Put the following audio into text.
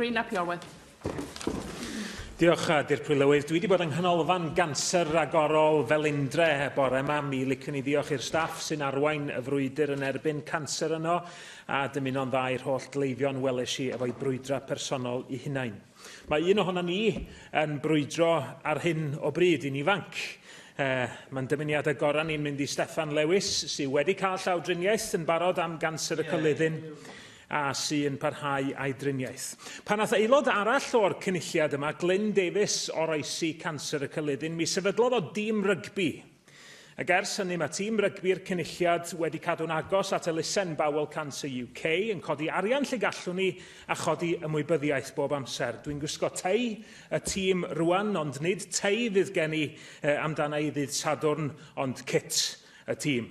Rhun ap Iorwerth. Diolch, uh, Dirprwy Lywydd. Dwi wedi bod yng Nghanolfan Ganser Ragorol Felindre bore yma. Mi licwn i ddiolch i'r staff sy'n arwain y frwydr yn erbyn canser yno, a dymuno'n dda i'r holl gleifion welesh i efo'i brwydra personol i hunain. Mae un ohono ni yn brwydro ar hyn o bryd i'n ifanc. Uh, Mae'n dymuniadau gorau ni'n mynd i Steffan Lewis, sydd wedi cael llawdriniaeth yn barod am ganser y yeah. a sy'n parhau â'i driniaeth. Pan nath aelod arall o'r cynulliad yma, Glyn Davies, oroesi canser y cyllidyn, mi sefydlodd o dîm rygbi. Ac ers hynny mae tîm rygbi'r cynulliad wedi cadw'n agos at elusen Bowel Cancer UK, yn codi arian lle gallwn ni a chodi ymwybyddiaeth bob amser. Dwi'n gwisgo tei y tîm rwan, ond nid tei fydd gen i amdana i ddydd Sadwrn, ond cit y tîm.